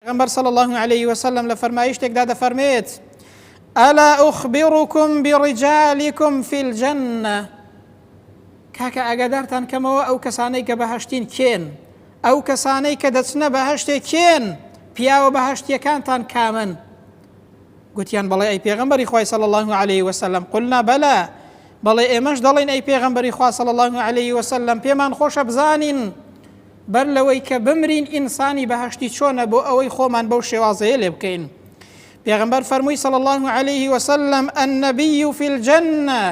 پێغەمبەر صلی اللە علیه وسلم لە فەرمایشتێکدا دەفەرمێت ئەلا ئوخبرکم بڕجالکم فی الجنە کاکە ئاگادارتان کەمەوە ئەو کەسانەی کە بەهشتین کێن ئەو کەسانەی کە دەچنە بەهشتێ کێن پیاوە بەهشتیەکانتان کامن گوتیان بەڵێ ئەی پێغمبەری خی صلی الله عليه وسلم قلنا بەلا بەڵێ ئێمەش دەڵێن ئەی پێغمبەری خوا صلی الله عليه وسلم پێمان خۆشە بزانین بەر لەوەی کە بمرین ئینسانی بەهەشتی چۆنە بۆ ئەوەی خۆمان بەو شێوازەیە لێ بکەین پێغمبەر فەرمووی صلی الله عليه وسلم النبی فی الجنە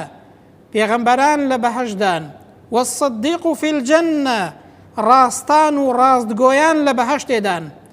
پێغمبەران لە بەهشدان والصدیق فی الجنە ڕاستان و ڕاستگۆیان لە بەهشتێدان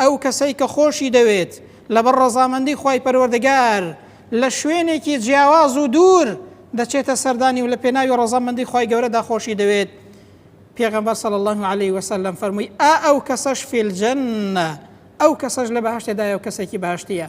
ئەو کەسەی کە خۆشی دەوێت لەبەر ڕەزامەندی خوای پەروەردگار لە شوێنێکی جیاواز و دوور دەچێتە سەردانی و لە پێناوی ڕەزامەندی خوای گەورەدا خۆشی دەوێت پێغەمبەر صلی الله علیه و سلم فەرمووی ئا ئەو کەسەش فی الجنە ئەو کەسەش لە بەهەشتێدایە و کەسێکی باشتیە